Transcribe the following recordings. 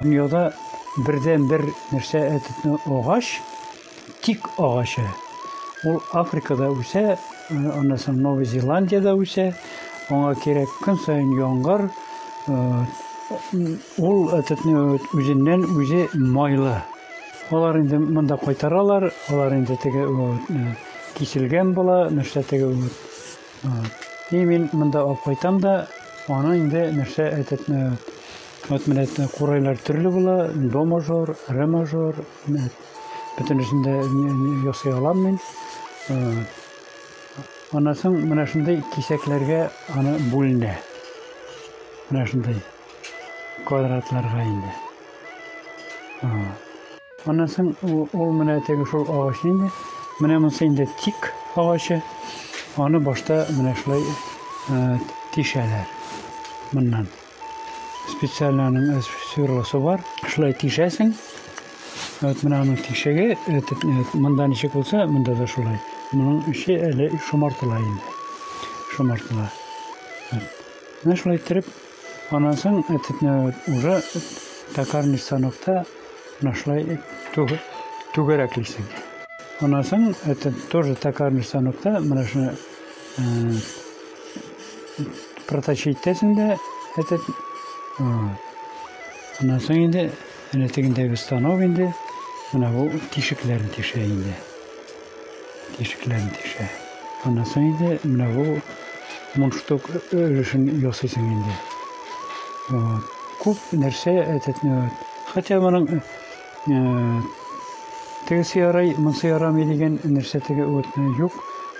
Дөньяда бердән бер нәрсә әтетне агач, тик агачы. Ул Африкада үсә, э, аннан соң Новая Зеландиядә үсә. Аңа кирәк көн саен яңгыр. Э, ул әтетне үзеннән үзе майлы. Алар инде монда кайтаралар, алар инде теге э, киселгән була, нәрсә теге И мин монда алып кайтам да, аны инде нәрсә әйтеп, вот менә курайлар төрле була, до мажор, ре мажор, бөтенесен дә ясый алам мин. Аннан соң менә шундый кисәкләргә аны бүленә. Менә шундый квадратларга инде. Аннан соң ул менә теге шул агач инде. Менә монысы инде тик агачы. Аны башта менә шулай тишәләр. Моннан специально аның сверлосы бар. Шулай тишәсең. Вот менә аның тишеге, монда ничек булса, монда да шулай. Моның эче әле шомартыла инде. Шомартыла. Менә шулай иттереп Аннан соң этне уже токарный станокта нашлай түгәрәклисең. Аннан соң это тоже токарный станокта менә шуны проточить итәсең дә этот аннан соң инде әнә тегендәге станок инде менә бу тишекләрен тишә инде. тишекләрен тишә. Аннан инде менә бу мундштук өлешен ясыйсың инде. Вот. Күп нәрсә әтәтне вот. Хотя моның тегесе ярый, монысы ярамый дигән нәрсә теге вот юк.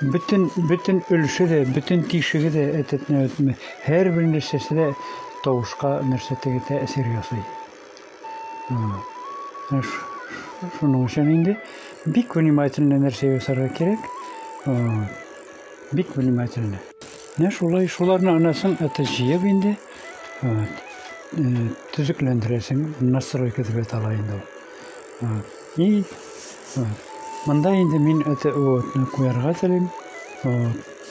Бөтен бөтен өлеше дә, бөтен тишеге дә әтәтне вот һәрбер нәрсәсе дә тавышка нәрсә теге тәэсир ясый. Шуның өчен инде бик внимательно нәрсә ясарга кирәк. Бик внимательно. Менә шулай шуларны анасын это җыеп инде төзекләндерәсең, настройка дип атала инде ул. И монда инде мин это вот куярга телим.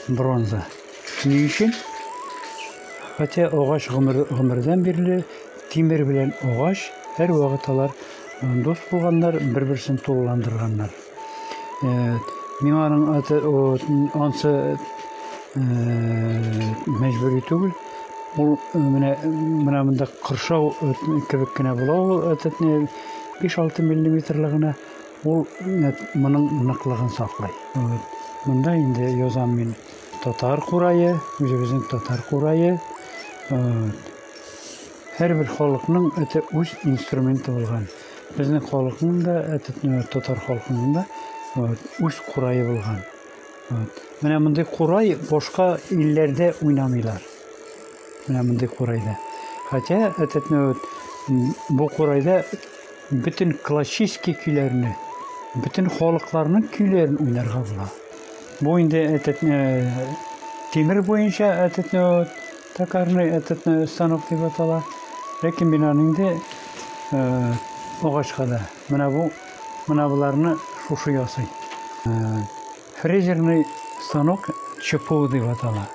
Бронза. Ни өчен? Хотя агач гомер, гомердән бирле тимер белән агач һәрвакыт алар дус булганнар, бер-берсен тулыландырганнар. Миңа аның аты ансы мәҗбүри түгел. Ул менә менә монда кыршау кебек кенә була ул әтәтне 5-6 миллиметрлы гына ул моның ныклыгын саклый. Монда инде язам мин. татар курае, үзебезнең татар курае. Һәрбер халыкның это үз инструменты булган. Безнең халыкның да, э, татар халкының да үз курае булган. Менә мондый курай башка илләрдә уйнамыйлар. Менә мондый курайда. Хотя этот бу курайда Бөтен классический көйләрне, бөтен халыкларның көйләрен уйнарга була. Бу инде әтәтне тимер буенча әтәтне токарный әтәтне станок дип атала. Ләкин мин аны инде агачка да. Менә бу, менә боларны шушы ясый. Фрезерный станок ЧПУ дип атала.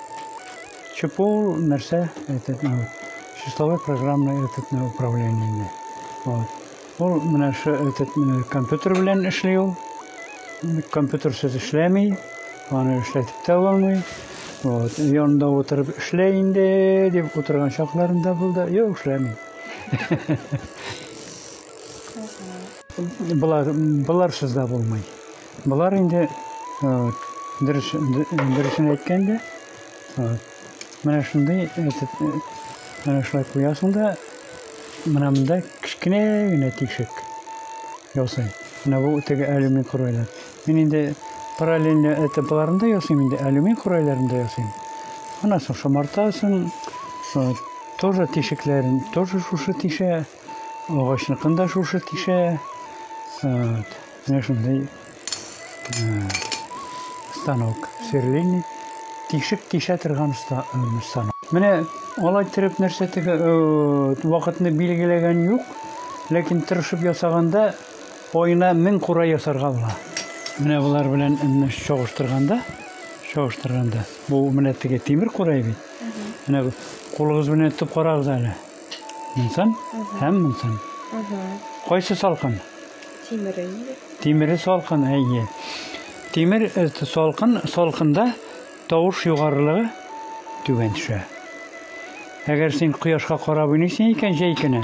ЧПУ ул нәрсә? Әйтеп, ну, числовой программный әйтеп, ну, управление ди. Вот. Ул менә шу әйтеп, ну, компьютер белән эшли ул. Компьютерсыз эшләми, аны эшләтеп тә булмый. Вот. Янында утырып эшлә инде дип утырган чакларында булды. Юк, эшләми. Болар, боларсыз да булмый. Болар инде дөрес дөресен әйткәндә менә шундый әйтеп менә шулай куясың да менә монда кечкенә генә тишек ясый. Менә бу теге алюмин курайлар. Мин инде параллельно этапларында ясыйм инде алюмин курайларында ясыйм. Аннан соң шомартасын, тоже тишекләрен тоже шушы тишә. Агачныкын да шушы тишә. Вот. Менә шундый станок. Сверлильный. Тишек тишә торган станок. Менә алай иттереп нәрсә тегә вакытны билгеләгән юк, ләкин тырышып ясаганда аена мең кура ясарга була. Менә болар белән менә чагыштырганда, чагыштырганда, бу менә теге тимер курай бит. Менә кулыгыз белән тотып карагыз әле. Мунсан һәм мунсан. Кайсы салкын? Тимере инде. Тимере салкын, әйе. Тимер э, салкын, салкында тавыш югарылыгы түбән төшә. Әгәр син кояшка карап уйныйсың икән җәй көне,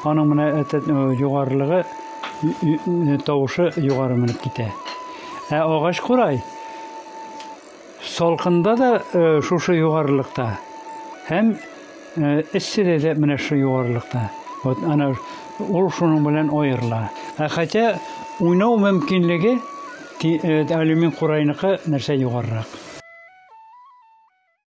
аның менә этот э, югарылыгы э, тавышы югары менеп китә. Ә агач курай Салкында да шушы югарылыкта һәм эсседә дә менә шушы югарылыкта. Вот ана ул шуның белән аерыла. Ә хотя уйнау мөмкинлеге алюмин курайныкы нәрсә югарырак.